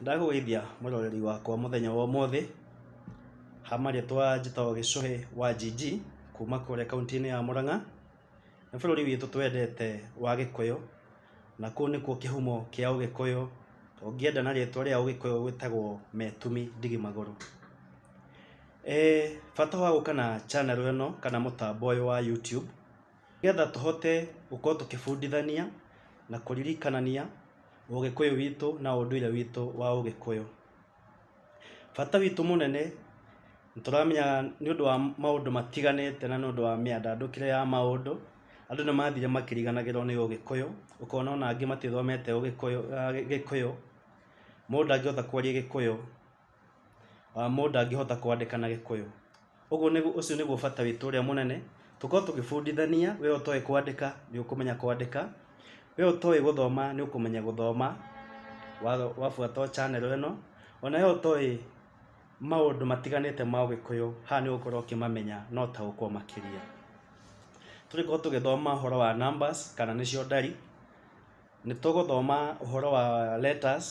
Ndagũgũithia mũroreri wakwa mũthenya wa ũmũthĩ, ha marĩtwa njĩtagwo Gĩcũhĩ wa Njinji kuma kũrĩa kauntĩ-inĩ ya Mũrang'a. Nĩ bũrũri witũ twendete wa Gĩkũyũ, na kũu nĩkuo kĩhumo kĩa ũgĩkũyũ, ũngĩenda na rĩtwa rĩa ũgĩkũyũ wĩtagwo Metumi Ndigi Magũrũ. Bata wa gũka na channel ĩno kana mũtambo ũyũ wa YouTube. Nĩgetha tũhote gũkorwo tũkĩbundithania na kũririkanania ũgĩkũyũ witũ na ũndũire witũ wa ũgĩkũyũ. Bata witũ mũnene nĩ tũramenya nĩ ũndũ wa maũndũ matiganĩte na nĩ ũndũ wa mĩandandũkĩre ya maũndũ, andũ nĩ mathire makĩriganagĩrwo nĩ ũgĩkũyũ, ũkona ona angĩ matithomete ũgĩkũyũ, gĩkũyũ, mũndũ ndangĩhota kwaria gĩkũyũ. Mũndũ ndangĩhota kwandĩka na gĩkũyũ. Ũguo nĩguo ũcio nĩguo bata witũ ũrĩa mũnene, tũkorwo tũgĩbundithania, we ũtoĩ kwandĩka nĩ ũkũmenya kwandĩka, we ũtoĩ gũthoma nĩ ũkũmenya gũthoma, wabuata o channel ĩno, ona we ũtoĩ maũndũ matiganĩte ma ũgĩkũyũ, haha nĩ ũgũkorwo ũkĩmamenya na ũtaũkwo makĩria. Tũngĩkorwo tũgĩthoma ũhoro wa numbers kana nĩcio ndari, nĩ tũgũthoma ũhoro wa letters.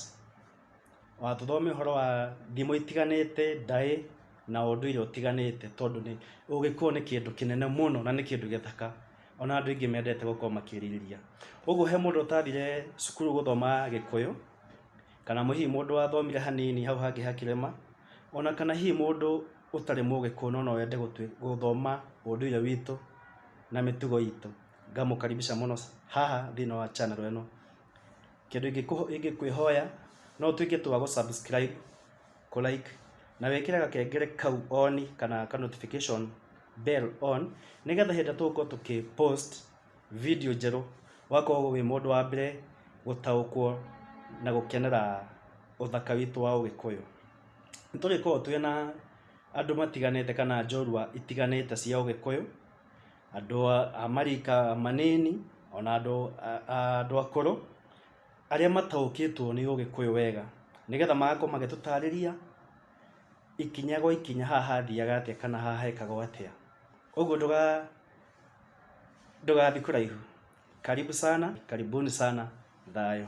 watũthomera ũhoro wa ndimũ itiganĩte, ndaĩ na ũndũire ũtiganĩte tondũ nĩ ũgĩkũyũ nĩ kĩndũ kĩnene mũno na nĩ kĩndũ gĩthaka ona andũ aingĩ mendete gũkorwo makĩrirĩria. Ũguo he mũndũ ũtathire cukuru gũthoma gĩkũyũ kana hihi mũndũ wathomire hanini hau hangĩ hakĩrema ona kana hihi mũndũ ũtarĩ mũgĩkũyũ no noende gũthoma ũndũire witũ na mĩtugo itũ ngamũkaribisha mũno haha thĩiniĩ wa channel ĩno. Kĩndũ ingĩkwĩhoya no ũtuĩke tu wa gũ subscribe, kũ like na wĩkĩre gakengere kau on kana ka notification bell on nĩgetha hĩndĩ ĩrĩa tũgũkorwo tũkĩ post video njerũ ũgakorwo wĩ mũndũ wa mbere gũtaũkwo na gũkenera ũthaka witũ wa ũgĩkũyũ. Nĩ tũrĩkoragwo twĩna andũ matiganĩte kana njorua itiganĩte cia ũgĩkũyũ. andũ a marika manini, ona andũ andũ akũrũ, arĩa mataũkĩtwo nĩ ũgĩkũyũ wega, nĩgetha magakorwo magĩtũtarĩria ikinya gwa ikinya haha hathiaga atĩa kana haha hekagwo atĩa. Ũguo ndũga ndũgathiĩ kũraihu. Karibu sana, karibuni sana, thayũ.